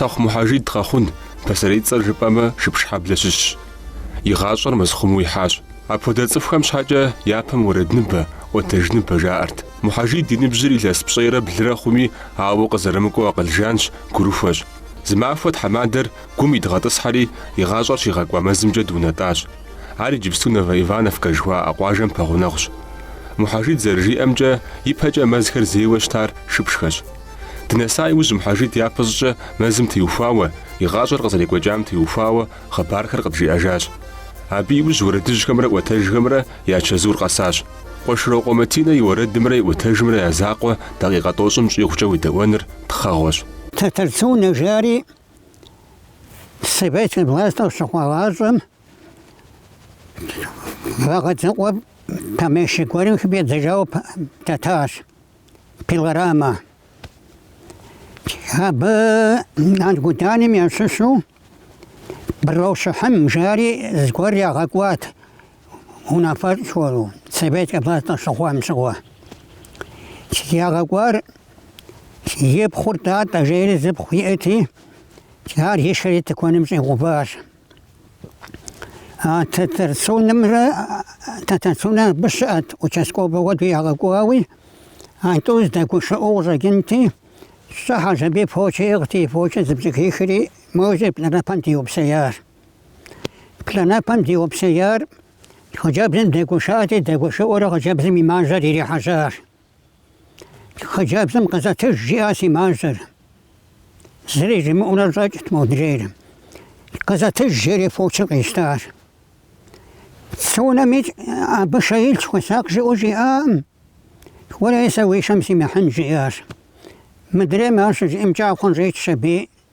Тэхъу Мухьэжид Къэхъун, пасэрей цӏэр жыпӏэмэ Шыпшхьэблэ щыщщ. И гъащӏэр мэзхъуму ихьащ. Апхуэдэ цӏыхухэм щхьэкӏэ япэм уэрэдныбэ, ӏуэтэжныбэ жаӏэрт. Мухьэжид и ныбжьыр илъэс пщӏейрэ блырэ хъуми, ауэ къызэрымыкӏуэу акъыл жанщ, гурыхуэщ. Зы махуэ тхьэмадэр гум идгъэтӏысхьэри, и гъащӏэр щигъэкӏуа мэзымкӏэ дунэтӏащ. Ар иджыпсту Новоивановкэ жыхуаӏэ къуажэм пэгъунэгъущ. Мухьэжид зэрыжиӏэмкӏэ, ипэкӏэ мэзхэр зейуэ щытар Шыпшхэщ. Дынэса иужь Мухьэжид япэ щӏыкӏэ мэзым теухуауэ, и гъащӏэр къызэрекӏуэкӏам теухуауэ хъыбархэр къыджиӏэжащ. Абы иужь уэрэдыжьхэмрэ ӏуэтэжхэмрэ я чэзур къэсащ. Къуэшрокъуэ Матинэ и уэрэдымрэ и ӏуэтэжымрэ я закъуэ дакъикъэ тӏощӏым щӏигъукӏэ уедэӏуэныр тхъэгъуэщ. Тэтэр Цунэ жари советскэ властыр щыхъуагъащӏэм Вагъэдзэкъуэ помещик гуэрым хыфӏидзэжауэ дэтащ, пилорамэ. Абы Аргуданым ящыщу Брэ Щыхьым жари зыгуэр ягъэкӏуат, унафэщӏу Советскэ власть къыщыхъуам щыгъуэ. Ягъэкӏуар и пхъур Татӏэ жери зы пхъу иӏэти, ар и шэри тыкуэным щӏигъуващ. А Тэтэр Цунэмрэ Тэтэр Цунэ абы щыӏэт участковэ хуэдэу ягъэкӏуауи, а тӏур зэдэгушыӏэу къыщӏэкӏынти, щӏыхьэщ абы и фочэ иӏыгъти, и фочэ зыпщӏыхихри, мо зы плӏанэпэм диупсеящ. Плӏанэпэм диупсеяр хъыджэбзым дэгушыӏэти, дэгушыӏэурэ хъыджэбзым и мажьэр ирихьэжьащ. Хъыджэбзым къызэтыж жиӏащ си мажьэр. Зыри жимыӏэурэ щӏэкӏт модрейр. Къызэтыж жери фочыр къищтащ. Цунэми абы шэ илъщ хуэсакъ жиӏэу жиӏакъым. Уэрей сэ уи шэм симыхьын жиӏащ. Мыдрейм ар щыжиӏэм кӏакхъур щӏичщ аби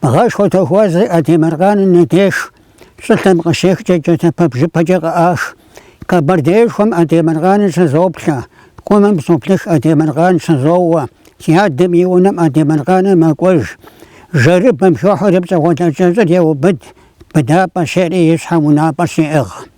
Бгъэшхуэ тохуэс зи Айдемыркъаным и деж щӏылъэм къыщехкӏэ джатэпэ бжыпэкӏэ къыӏаш. Къэбэрдеишхуэм Айдемыркъаныр щызоплъэ, Къумым соплъых Айдемыркъан щызоуэ, и адэм и унэм Айдемыркъаныр мэкӏуэж. Жэрыбэм хохьэри пщӏэгъуэлэ кӏэщӏыр еубыд, быдапӏэ щери и щхьэм унапӏэ щиӏыгъ.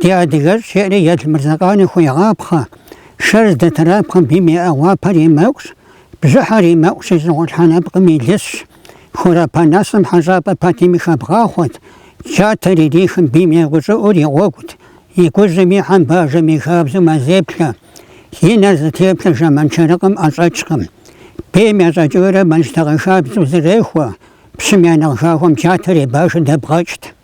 Ди адыгэщ, жеӏэри, Елмырзэкъани хуегъапхъэ, Шэр здытрапхъэм бийм и ӏэгъуапэр и мэкӏущ, бжьыхьэр и мэкӏущ, и щӏыгъулъхьэ нэпкъым и лысщ. Хурэпа нэсым Хьэщӏапӏэ Патимэ хабгъахъуэт, джатэр ирихым бийм егъущӏыӏур и гъуэгут, и гужьым ихьэм бажэм и хабзэу мэзеплъэ. И нэр зытеплъэ Жэманшарыкъым ӏэщӏэкӏкъым. Бийм ящӏэкӏыурэ мэл щтагъэ хабзэу зэрехуэ, пщым я нэхъ хахуэм джатэр и бажэ дэбгъэкӏт.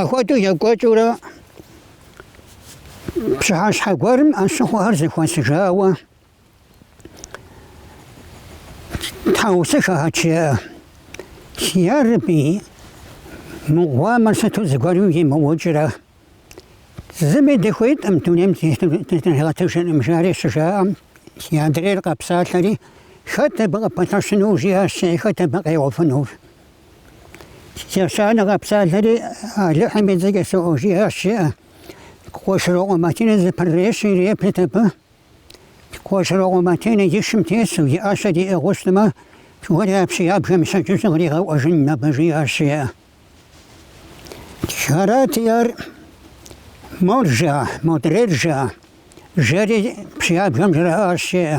Ахуэдэу екӏуэкӏыурэ пщыхьэщхьэ гуэрым ӏэщыхъуэхэр зэхуэсыжауэ тхьэусыхэхэт, жеӏэ. Си Ярэби, мы гъуамэр сыту зыгуэрым имыукӏрэ? Зыми дыхуитӏым дунейм дытригъэтыжӏым, жари щыжаӏэм, си адрейр къэпсалъэри, хэт абы къыпэлъэщынур, жиӏащ, жеӏэ, хэт абы къегъуэфынур? Ещанэ къэпсалъэри, Алыхьым и цӏэкӏэ соӏуэ, жиӏащ, жеӏэ. Къуэшырокъуэ Матинэ зэпэрырещи, иреплъыт абы. Къуэшырокъуэ Матинэ и шым тесу, и ӏэщэр иӏыгъыу щытмэ, уэри а пщыябгэм и щэджыжьыр къригъэӏуэжын абы, жиӏащ, жеӏэ. Арати, ар мор жеӏэ, модрейр жеӏэ. Жери пщыябгэм жраӏащ, жеӏэ.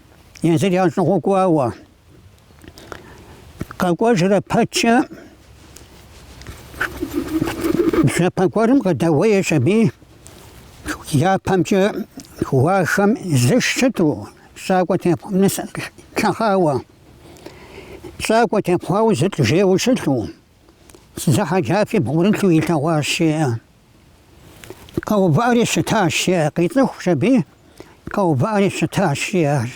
езыр ящӏыгъуу кӏуауэ къэкӏуэжрэ пэткӏэ бжьэпэ гуэрым къыдэуеещ аби япэмкӏэ ӏуащхьэм зы шы щыту щӏакӏуэ тепхъу ныс лъэхъауэ щӏакӏуэ тепхъуауэ зы лӏы жейуэ щылъу зы хьэджафи бгъурылъу илъэгъуащ жеӏэ. Къэувыӏэри щытащ, жи, къицӏыхущ аби, къэувыӏэри щытащ, жиӏар.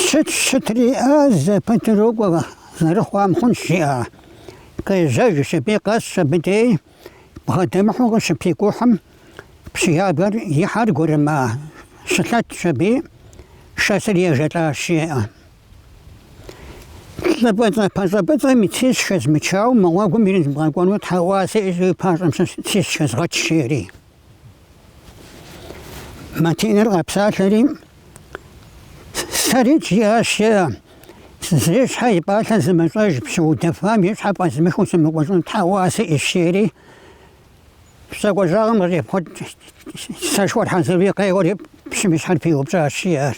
Щыт, щытри, а, зэпытыр укӏуэ, зэрыхъуам хъунщ, жиӏа. Къежьэжщ аби, къэсщ абы дей, бгъэдэмыхьу къыщыпикӏухьым, пщыябгэр и хьэр гурыма, щылъэтщ аби, шэсри ежэлӏащ, жеӏэ. Лӏы пӏыцӏэ пащӏэ пӏыцӏэм и цищ хэзмычауэ мы гъуэгум ирезмыгъэкӏуэну тхьэӏуэ сиӏэщ, и пащӏэм сэ цищ хызэгъэч, жери. Матиныр къэпсалъэри, Сэри, жиӏащ, е, зи щхьэ и пӏалъэ зымыщӏэж, пщы удэфам и щхьэ фӏэзмыхыу сымыкӏуэжыну тхьэӏуэ сиӏэщ, жери. Щӏакӏуэ щӏагъым къыщӏепхъуэт сэшхуэр хьэзыри, къеуэри пщым и щхьэр пиупщӏащ, жиӏар.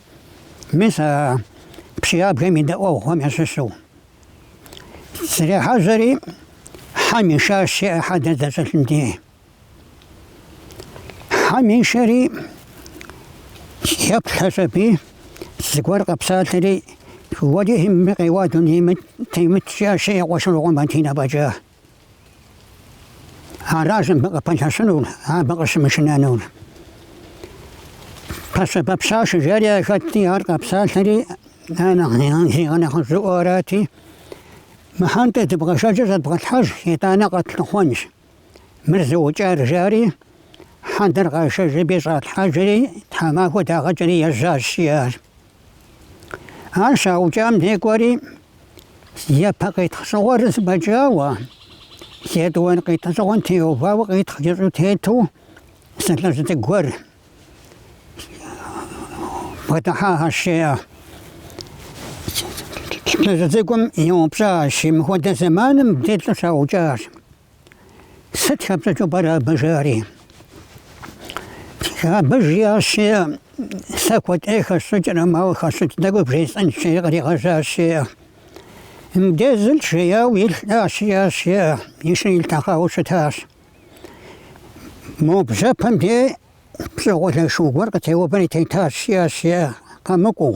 Мис а пщыябгэм и дэӏуэгъухэм ящыщу зрехьэжьэри, хьэм ишащ, жеӏэ, хьэдэр здэщылъым дей. Хьэм ишэри еплъщ аби, зыгуэр къэпсалъэри, Уэри мыбы къеуа дунейм темыт, жиӏащ, жеӏэ, Къуэшырокъуэ Матинэ фӏэкӏа. Аращ мыбы къыпэлъэщынур, абы къыщымышынэнур. Пэщэбэ пщаш жери яхэтти, ар къэпсалъэри, ар нэхъ зигъэнэхъыжьыӏуэу арати, мы хьэдэр дывгъэшэжи щӏэдывгъэлъхьэж, итӏанэ къэтлъыхъуэнщ мыр зыукӏар, жари, хьэдэр къашэжщ аби щӏалъхьэжри, тхьэмахуэ дагъэкӏри ежьащ, жиӏащ. Ар щаукӏам дей кӏуэри, япэ къитхъ щыгур зэбэкӏауэ, етӏуанэ къитхъ щыгум теувауэ къитхъ кӏэщӏу тету зы лӏыжь цӏыкӏу гуэр бгъэдыхьащ, жиӏэ. Лӏыжь цӏыкӏум еупщӏащ, мыхуэдэ зэман мыбдей лӏы щаукӏащ. Сыт хэпщӏыкӏыу пӏэрэ абы жари? Абы жиӏащ, жиӏэ, сэ куэдкӏэ хэсщӏыкӏрэ, мауэ хэсщӏыкӏ тӏэкӏу бжесӏэн щи, къригъэжащи, мыбдезылт жеяуэ илъащ, жиӏащ, жиӏэ, и шыр илъэхъауэ щытащ. Мо бжьэпэм дей пщӏэгъуалэ шу гуэр къытеувэри тетащ, жиӏащ, жиӏэ, къэмыкӏуэу.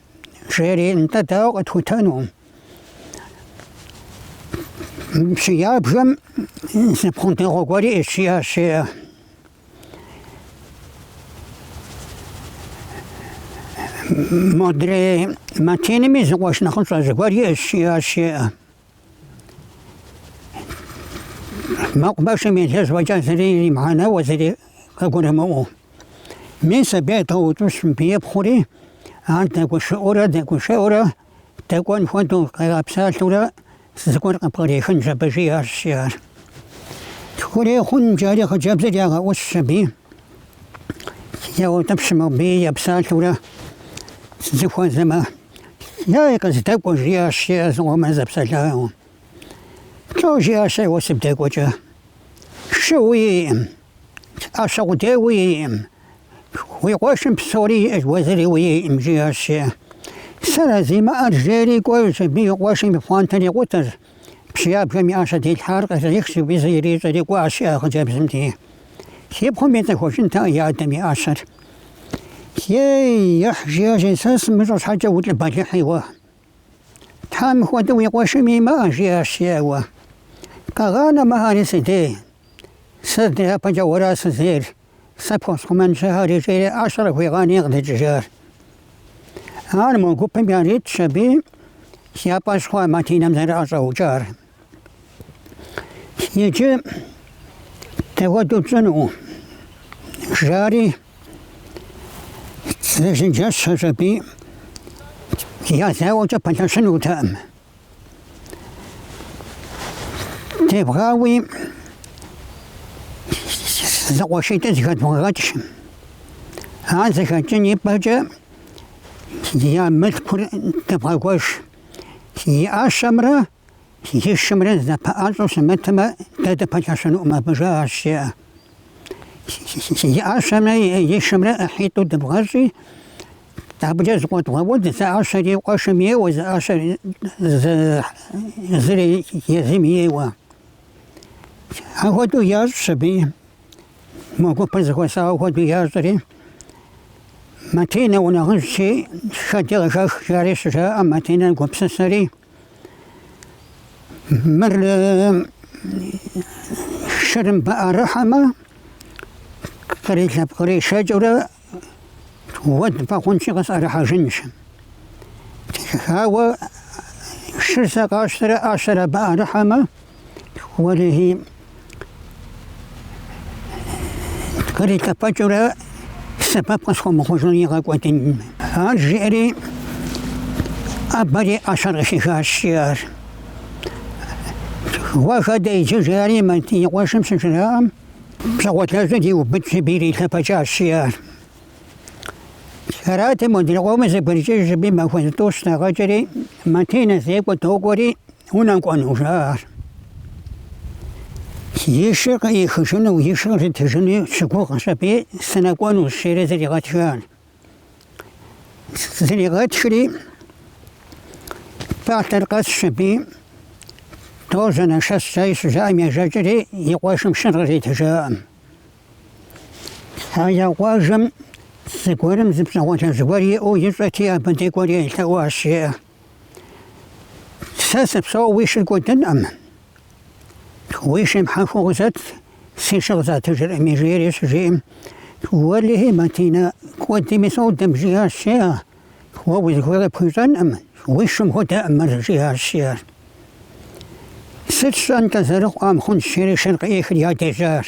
жери, нтӏэ дауэ къытхутэну? Пщыябгэм зы пхъу дэгъуэ гуэр иӏэщ, жиӏащ, жиӏэ. Модрей Матинэми зы къуэш нэхъыщӏэ зыгуэр иӏэщ, жиӏащ. Мэкъумэшым елэжь фӏэкӏа зыри имыхьэнэуэ, зыри къыгурымыӏуэу. Мис абы едвгъэутӏыпщ мыбы и пхъури, ар дэгушыӏуэурэ дэгушыӏуэурэ дэкӏуэн хуэдэу къигъэпсалъэурэ зыгуэр къыпкърихынщ абы, жиӏащ жиӏэ. Тхурей хъунщ жари хъыджэбзыр ягъэӏущщ аби яутӏыпщ мыбы епсалъэурэ зыхуэзэмэ. Ей, къыздэкӏуэ, жиӏащ жиӏэ, зыкъомрэ зэпсэлъауэ. Лӏо, жиӏащ ар, уэ сыбдэкӏуэкӏэ. Шы уиӏым, ӏэщэ къудей уиӏым, уи къуэшым псори иӏэщ, уэ зыри уиӏым, жиӏащ жиӏэ. Сэра зимыӏэр жери кӏуэжщ аби и къуэшым и пхъуантэр икъутэщ. Пщыябгэм и ӏэщэ дэлъхэр кърихщ, зы бгы из ирищӏэри кӏуащ, жиӏэ, хъыджэбзым деж. И пхъум ицӏыхужынтэкъэ и адэм и ӏэщэр. Ей, ехь, жиӏащ, жиӏэ, сэ сымыщӏэ щхьэкӏэ улӏы бэлыхьи уэ. Тхьэ, мыхуэдэ уи къуэшым имыӏэ, жиӏащ жиӏэ. Уэ къэгъанэ мыхэри си дей, сэ дяпэкӏэ уэра сызейр? Сэ пхуэсхъумэнщ ахэр икӏи ӏэщэр къигъанэри къыдэкӏыжащ. Ар мо гупым яритщ аби я фӏэщ хъуащ Матинэм зэрыӏэщӏэукӏар. Иджы дапхуэдэу тщӏыну? жари зэчэнджэщщ аби езауэкӏэ пэлъэщынутэкъым. Девгъауи зэкъуэшитӏыр зэхэдывгъэгъэкӏ. Ар зэхэкӏын и пӏэкӏэ я мылъкур дывгъэгуэш. И ӏэщэмрэ и шымрэ зэпэӏэщӏэу щымытмэ, дэ дыпэлъэщынукъым абы, жаӏащ, жеӏэ. И ӏэщэмрэ и шымрэ ӏыхьитӏу дывгъэщӏи, Абыкӏэ зэкъуэдывгъэуд, зы ӏэщэр и къуэшым ейуэ, зы ӏэщэр зыр езым ейуэ. Ахуэдэу ящӏщ аби мо гупыр зэхуэсауэ хуэдэу ящӏри. Матинэ, унэхъыжьщи, хэди къыхэх жари щыжаӏэм Матинэ гупсысэри. Мыр шыр мыбы ӏэрыхьэмэ, кърилъэпкъыришэкӏыурэ Уэд хъунщи къысӏэрыхьэжынщ. Хьэуэ шыр сэ къащтэрэ ӏэщэр абы ӏэрыхьэмэ, уэрыхи кърилъэпэкӏыурэ сэбэп къысхуэмыхъужу игъэкӏуэдын. Ар жиӏэри ӏэбэри ӏэщэр къыхихащ, жиӏар. Уэ хэдэ иджы жари и къуэшым щыжраӏэм. Пщӏэгъуалэжьыр иубыдщ аби ирилъэпэкӏащ жиӏар. Арати, модрей къомыр зэбгрыкӏыжщ аби махуэ зытӏущ дагъэкӏри, Матинэ зекӏуэ докӏуэри унэкӏуэну жаӏэр. И шыр къыӏихыжыну, и шыр къритыжыну щыгугъщ аби, сынэкӏуэнущ, жери зригъэтхар. зригъэтхри пӏалъэр къэсщ аби дожьэ, нэшэс, жари щыжаӏэм ежэкӏри и къуэшым шыр къритыжаӏым. А я къуажэм зыгуэрым зы пщӏэгъуалэ зыгуэр иӏэу ищӏэти, абы дей кӏуэри елъэӏуащ, жеӏэ. Сэ сыпсэу уи шыр кӏуэдынӏым. Уи шым хьэхуэ къызэт, си шыр къызатыжыркъыми, жери щыжиӏэм, Уэлэхьи, Матинэ, кӏуэдми содэ, жиӏащ жеӏэ. Уэ узыхуейр къыпхуищӏэнкъым, уи шым хуэдэкъым мыр, жиӏащ жеӏэ. Сыт щӏэн-тӏэ, зэрыхъуам хъунщ, жери шыр къыӏихри ядежьащ.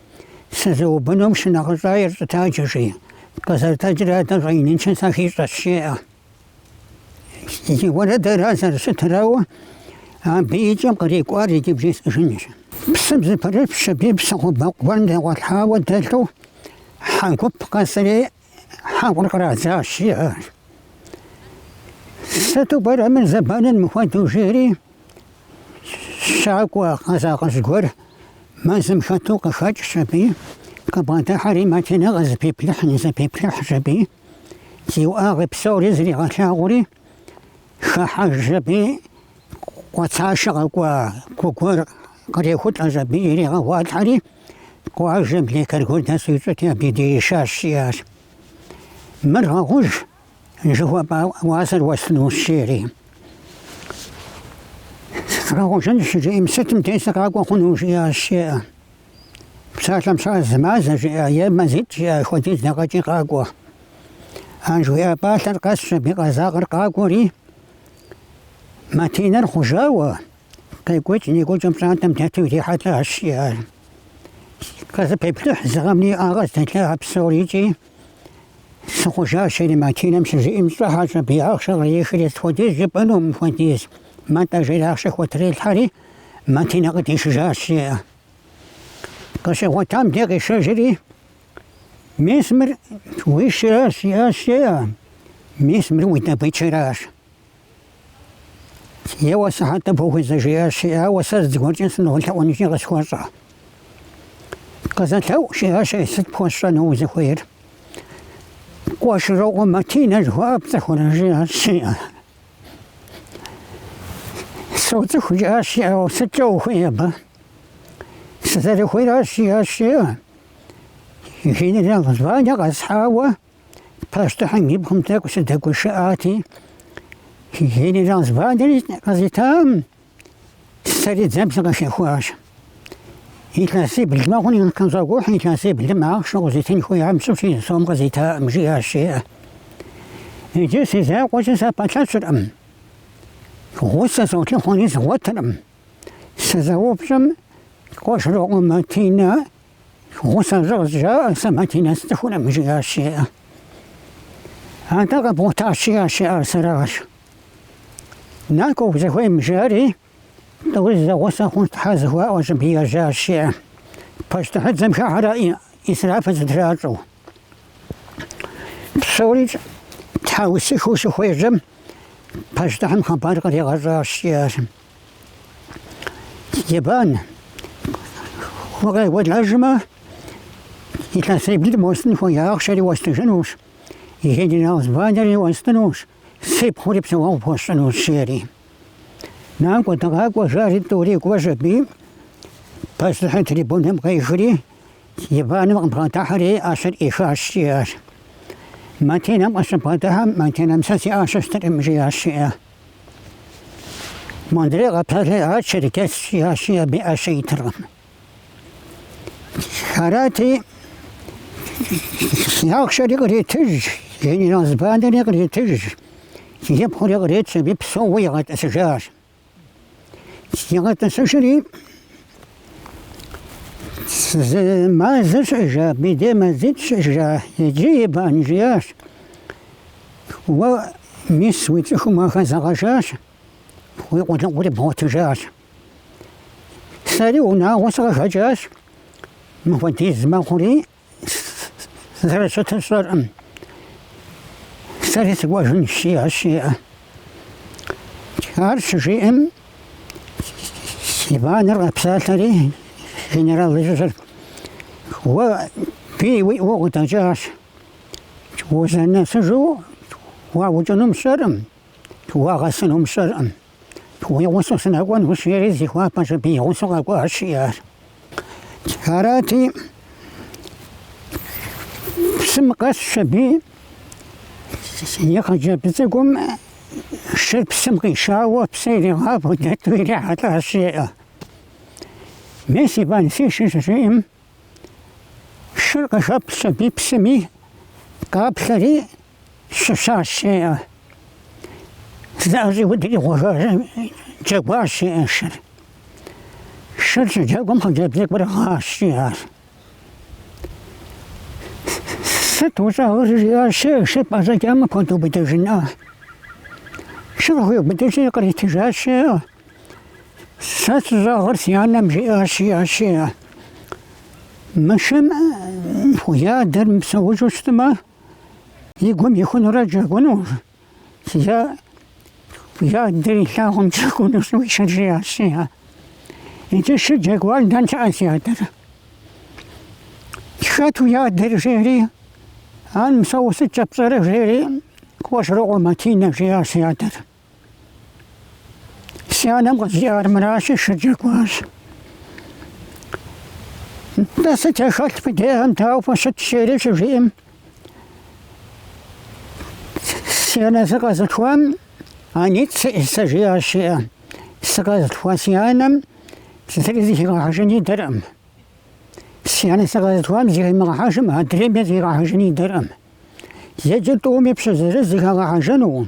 Сызыубыдум шынагъыщӏа ирщӏытаджэ, жи. Къызэрытэджри адэ щӏэиныншэ сахищӏэщ, жеӏэ. Зи уэрэдыр ар зэрыщытыр, ауэ, абы и кӏэм кърикӏуар иджы бжесӏэжынущ. Псым зэпрыпщщ аби псыхъуэпэ гуэрым дэгъуэлъхьауэ дэлъу хьэ гуп къэсри Хьэкъугъ кърадзащ, жеӏэ. Сыту пӏэрэ мыр зэбэныр мыхуэдэу жери, щакӏуэ къэзакъыжь гуэр мэзым хэту къыхэкӏщ аби, къыбгъэдыхьэри Матинэ къызэпиплъыхь, нызэпиплъыхьщ аби, и уӏэгъэ псори зригъэлъагъури, хыхьэжщ аби къуацэшэ къэкӏуа гу гуэр кърехулӏэщ аби иригъэгъуалъхьэри, къуажэм лекар гуэр дэсу ищӏэти, абы и дей ишащ, жиӏащ. Мыр гъэхъуж, жыхуэпӏэ уасэр уэстынущ, жери. Згъэхъужынщ, щыжиӏэм, сытым дей сыкъакӏуэ хъуну, жиӏащ, жеӏэ. Псалъэм щхьэкӏэ зы мазэ жиӏэ е мазитӏ жиӏэ хуэдиз дэгъэкӏи къакӏуэ. Ар жыхуиӏэ пӏалъэр къэсщ аби къэзакъыр къакӏуэри, Матинэр хъужауэ, къекӏуэкӏ-некӏуэкӏыу пщӏантӏэм дэту ирихьэлӏащ, жиӏэ. Къызэпеплъыхь зы гъэм и уӏэгъэ здэлъа псорикӏи, Сыхъужащ, жери Матинэм щыжиӏэм щӏыхьэщ аби ахъшэр кърихри, Сыт хуэдиз жыпӏэну мыхуэдиз? Мантӏэ, жери ахъшэ хуэтрилъхьэри, Матинэ къыдишыжащ, жиӏэ. Къыщигъуэтам дей къишэжри, мис мыр уи шыращ, жиӏащ, жеӏэ, мис мыр уи дабычэращ. Еуэ сыхьэтыфӏ ухуэзэ, жиӏащ, жиӏэ, ауэ сэ зыгуэркӏэ сынолъэӏунущи къысхуэщӏэ. Къызэлъэӏу, жиӏащ, ей, сыт пхуэсщӏэну узыхуейр? Къуэшрокъуэ Матинэ жыхуаӏэ пцӏыхурэ, жиӏащ, жеӏэ. Соцӏыху жиӏащ жиӏэ сыткӏэ ухуей абы? Сызэрыхуейращ жиӏащ жиӏэ. Генерал званэ къэсхьауэ пащтыхьым и пхъум тӏэкӏу сыдэгушыӏати, генерал званэри къызитакъым Сэри дзэм сыкъыхихуащ. Илъэсибл мэхъури къыщызокӏухь, илъэсиблым ахъшэ къызитын хуеям щыщ зы сом къызитакъым, жиӏащ, жеӏэ. Иджы си закъуэкӏэ сыпэлъэщыркъым. Гъусэ солъыхъуэри згъуэтыркъым. Сызэупщӏым, Къуэшрокъуэ Матинэ гъусэ щӏы жаӏэ, сэ Матинэ сцӏыхуркъым, жиӏащ, жеӏэ. Атӏэ къэбгъуэтащ, жиӏащ, жеӏэ, ар сэращ. Накӏуэ узыхуейм жари, тӏури зэгъусэ хъуну Тхьэ зыхуаӏуэщ аби ежьащ, жиӏэ, пащтыхьыдзэм хыхьэрэ исраф зэтращӏэу. Псори тхьэусыхыу щыхуежьэм, пащтыхьым хъыбар къригъэщӏащ, жиӏащ, Степан, укъекӏуэлӏэжмэ, илъэсиблым уэстын хуея ахъшэри уэстыжынущ, генерал званиери уэстынущ, Си пхъури псэуэгъу пхуэсщӏынущ, жери. Накӏуэ, дыгъакӏуэ, жари тӏури кӏуэжщ аби, пащтыхьыр трибунэм къехри, Степаным къыбгъэдыхьэри, ӏэщэр ӏихащ, жиӏащ. Матинэм къыщыбгъэдыхьэм, Матинэм сэ си ӏэщэ стыркъым, жиӏащ, жиӏэ. Модрей къэпсалъи, ар черкес, жиӏащ, жиӏэ, абы и ӏэщэ итыркъым. Арати, ахъшэри къыритыж, генерал званэри къыритыж, и пхъури къритщ аби псоуэ игъэтӏысыжащ. Игъэтӏысыжри, зы мазэ щыӏэжа абдей мазитӏ щыӏа, иджы Иван жиӏащ. Уэ мис уи цӏыхум уахэзэгъэжащ, уи къулыкъури бгъуэтыжащ. Сэри унагъуэ сыкъыхэкӏащ, мыхуэдиз мэхъури зэрыщытыр сщӏэркъым. Сэри сыкӏуэжынщ, жиӏащ, жиӏэ. Ар щыжиӏэм, Иваныр къэпсалъэри генерал ищӏыжырт. Уэ бий уиӏэу укъыдэкӏащ. Узэрынэсыжу уаукӏынум сщӏэркъым, уагъэсынум сщӏэркъым. Уи гъусэу сынэкӏуэнущ жери, зихуапэщ аби и гъусэу къэкӏуащ жиӏэ. Арати, псым къэсщ аби и хъыджэбз цӏыкӏум шыр псым къишауэ, псы иригъафэу дэту ирихьэлӏащ жеӏэ. Мис Иван си шы щыжиӏэм, шыр къыхэплъщ аби псыми, къаплъэри, Щыщащ жеӏэ. Зыӏэщӏиудри къэджэгуащ жеӏэ шыр. Шыр щыджэгум хъыджэбз цӏыкӏур гъащ жиӏэ. Сыт ущӏэгъыр жиӏащ жеӏэ шыр пӏэщӏэкӏамэ пхуэдубыдыжынӏэ. Шыр къыхуиубыдыжри къритыжащ жеӏэ. Сэ сыщӏэгъыр си анэм жиӏащ жиӏащ жеӏэ. Мы шым уи адэр мыпсэужу щытмэ, И гум ихунурэ джэгунущ, зэ уи адэр илъагъум джэгунущ и шыр жиӏащ, жиӏэ. Иджы шы джэгуар дэн щыӏэ си адэр? Хэт уи адэр жери, ар псэууэ сыткӏэ пщӏэрэ жери, Къуэшрокъуэ Матинэ жиӏащ си адэр. Си анэм къызжиӏар мыращи, шыр джэгуащ. Дэ сыт яхэлъ къыдеӏэм, дауэ фыщыт жери щыжиӏэм, си анэ сыкъэзылъхуам анитӏ сиӏэщ сэ жиӏащ жиӏэ. Сыкъэзылъхуа си анэм зыри зыхигъэхьэжын идэркъым. Си анэ сыкъэзылъхуам зыхимыгъэхьэжым, адрейми зыхигъэхьэжын идэркъым. Иджы тӏуми пщы зыри зыхагъэхьэжынукъым.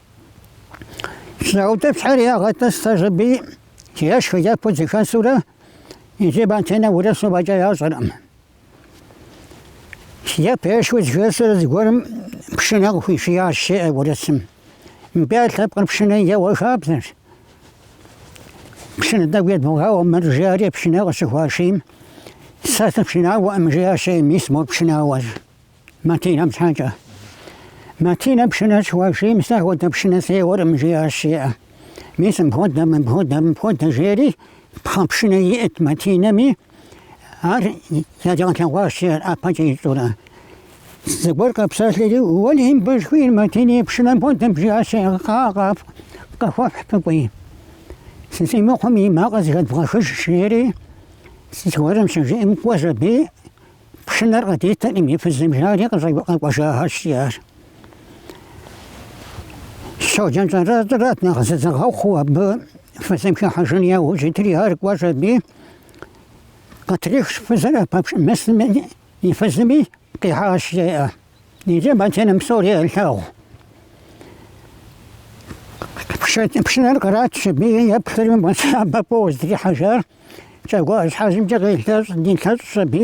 Лъэӏутӏыпщхьэр ягъэтӏысщ аби ешхэ-ефэу зыхэсурэ иджы Матинэ урысу фӏэкӏа ящӏэркъым. Ефэ-ешхэу зыхэсурэ зыгуэрым пшынэ къыхуишиящ, жеӏэ урысым. Мыбы я лъэпкъыр пшынэ еуэ хабзэщ. Пшынэ тӏэкӏу едвгъауэ мыр, жари, пшынэ къыщыхуашийм, сэ сыпшынауэӏым, жиӏащи, мис мор пшынауэщ. Матинэм щхьэкӏэ. Матинэ пшынэ щыхуашийм, сэ апхуэдэ пшынэ сеуэркъым, жиӏащ жеӏэ. Мис мыпхуэдэ, мыпхуэдэ, мыпхуэдэ, жери пхъэ пшынэ иӏэт Матинэми, ар яригъэлъэгъуащ, жеӏэ, ӏэпэкӏэ ищӏурэ. Зыгуэр къэпсэлъэри, уэлей бэшхуи, Матинэ и пшынэм хуэдэм, жиӏащ жеӏэ, къа-къа, къыхуэфхь фыкӏуи. Зи, зи мыхъум и макъыр зыхэдвгъэхыж, жери зыгуэрым щыжиӏэм, кӏуэщ аби, Пшынэр къыдитыркъым и фызым, жари къэкӏуэжахэщ ар. Щоджэн Щӏэращӏэрат нэхъ зызыгъэхъуу абы фызым хыхьэжын яужь итыр, ар кӏуэщ аби, къытрихщ фызыр ӏэпэпш мысым и фызыми, къихьащ, жеӏэ. Иджы Матинэм псори ялъагъу. Пшынэр къратщ аби еплъри, уа, сабэ фӏыуэ зытрихьэжар. Кӏагуэ ӏэщхьэжьымкӏэ къилъэщӏ, дилъэщӏщ аби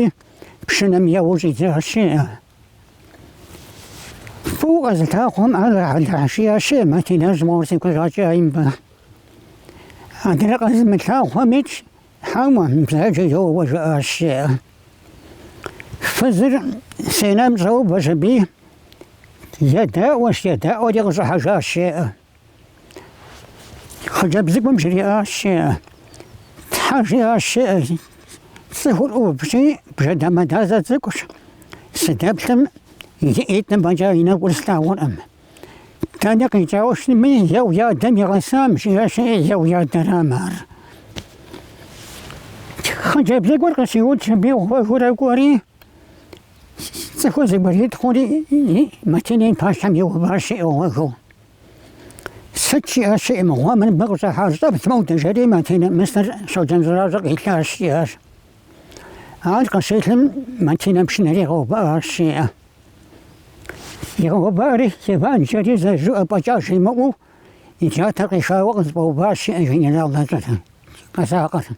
пшынэм еуэу щӏидзащ, жеӏэ, фӏыуэ къэзылъагъухэм ар, уэлэхьи, жаӏащ, жеӏэ, Матинэщ мор си кущӏакӏэ имба. Адрей къэзымылъагъухэм итщ, хьэуэ, бзаджэу йоуэ жаӏащ, жеӏэ. Фызыр сенэм щӏэувэщ аби, едаӏуэщ, едаӏуэри къыщӏыхьэжащ, жеӏэ. Хъыджэбз цӏыкӏум жриӏащ, жеӏэ, Тхьэ, жиӏащ, жеӏэ, цӏыхур ӏувщи бжэ дамэдазэ цӏыкӏущ, сыдэплъым и ӏитӏым фӏэкӏа и нэкӏур слъагъуркъым. Дэнэ къикӏауэ щытми, е уи адэм игъэсам, жиӏащ, жеӏэ, е уи адэрам ар. Хъыджэбз цӏыкӏур къыщиудщ аби гъуэгыурэ кӏуэри, Цӏыхур зэбгритхъури, Матинэ и пащхьэм иуващ, жеӏэ, гъуэгыу, Сыт щиӏэр си мыгъуэ мыр мыбы къыщӏыхьар, щӏэвдз мы удыр, жери, Матинэ мысыр Щоджэн Щӏэращӏэ къилъащ, жиӏащ. Ар къыщилъым, Матинэ пшынэр игъэувыӏащ, жеӏэ. Игъэувыӏэри, Иван жери зэ жыӏэ фӏэкӏа жимыӏэу, и джатэр къихауэ къызэфӏэуващ, жеӏэ, генерал дэщӏыр, къэзакъыр.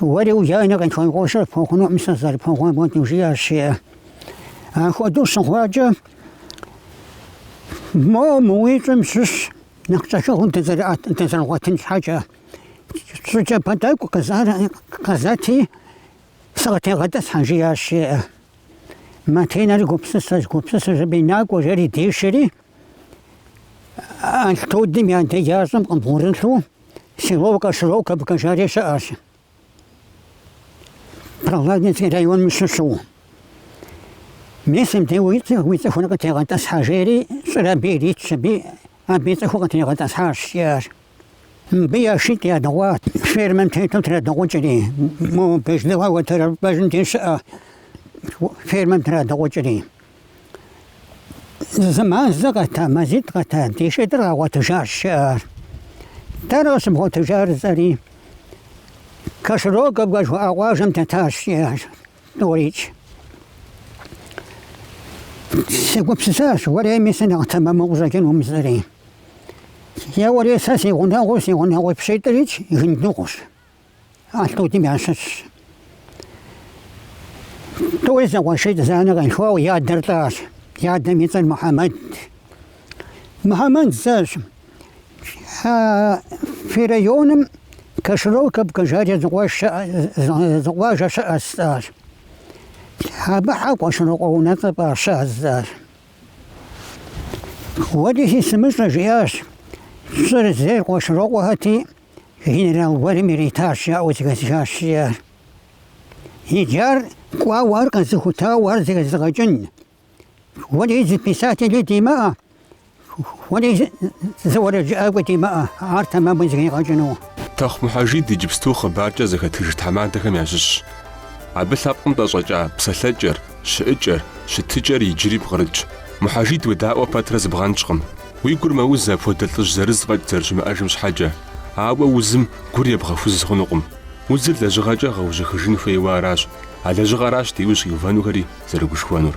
Уэри уи анэ къилъхуа къуэшыр пхуэхъунукъым сызэрыпхуэхъуам хуэдэу жиӏащ жеӏэ. Ахуэдэу щыхъуакӏэ моуэ мы уи щӏым щыщ нэхъ кӏэхыгъум дызэрыгъуэтын щхьэкӏэ щӏы кӏапэ тӏэкӏу къызэти сыкъытегъэтӏысхьэ жиӏащ жеӏэ. Матинэр гупсысэщ, гупсысэщ аби накӏуэ жэри дишэри Алътудым и адэджащӏэм къыбгъурылъу Село Кашироковка жари щыӏэщ. Прохладнинский районым щыщу. Мисым де уи цӏыхур къытегъэтӏысхьэ жери щӏыр абы иритщ, аби абы и цӏыхур къытригъэтӏысхьащ, жиӏащ. Мыбы я шитӏ ядыгъуат, фермэм тету традыгъукӏри, мо Бежлыгъэ уэтэрыпӏэжьым де щыӏэ фермэм традыгъукӏри. Зы, зы мазэ къэта, мазитӏ къэта, ди шитӏыр къэдгъуэтыжащ жиӏащ. Дэнэ къыщыбгъуэтыжар жысӏэри Кашироковка жыхуаӏэ къуажэм дэтащ, жиӏащ тӏурикӏ. Сегупсысащ, уэрей мисыр нэхъ тэмэму къыщӏэкӏынум жысӏэри. Е уэрей сэ си гъунэгъуу, си гъунэгъуи пщитӏрикӏ Гындыгъущ. Алътудым ящыщщ. Тӏури зэкъуэшитӏ, зы анэ къилъхуауэ, я адэр лӏащ. Я адэм и цӏэр Мухьэмэд. Мухьэмэд жысӏащ. Фи районым Кашироковка жари зы къуажэ щыӏэ жысӏащ. Абы щхьэ Къуэшырокъуэ унэцӏэ фӏаща жысӏащ. Уэлэхьи сымыщӏэ жиӏащ. Щӏыр зейр Къуэшырокъуэхэти Генерал гуэрым иритащ жаӏэу зэхэсхащ жиӏащ. Иджы ар кӏуауэ ар къэзыхутауэ ар зэхэзыгъэкӏын уэрей зы писатели димыӏэ, уэрей зы уэрэджыӏакӏуэ димыӏэ ар тэмэму зэхигъэкӏыну. Тэхъу Мухьэжид иджыпсту хъыбаркӏэ зэхэтыж тхьэмадэхэм ящыщщ. Абы лъэпкъым ӏэщӏэкӏа псэлъэкӏэр, щыӏыкӏэр, щытыкӏэр иджыри пкърылъщ. Мухьэжид уедаӏуэ пэтрэ зыбгъэнщӏкъым. Уи гур мэуз апхуэдэ лӏыжь зырыз фӏэкӏ зэрыщымыӏэжым щхьэкӏэ, ауэ узым гур ебгъэхуз хъунукъым. Узыр лэжьыгъэкӏэ гъэужьыхыжын хуейуэ аращ, а лэжьыгъэращ ди ужь иувэнухэри зэрыгушхуэнур.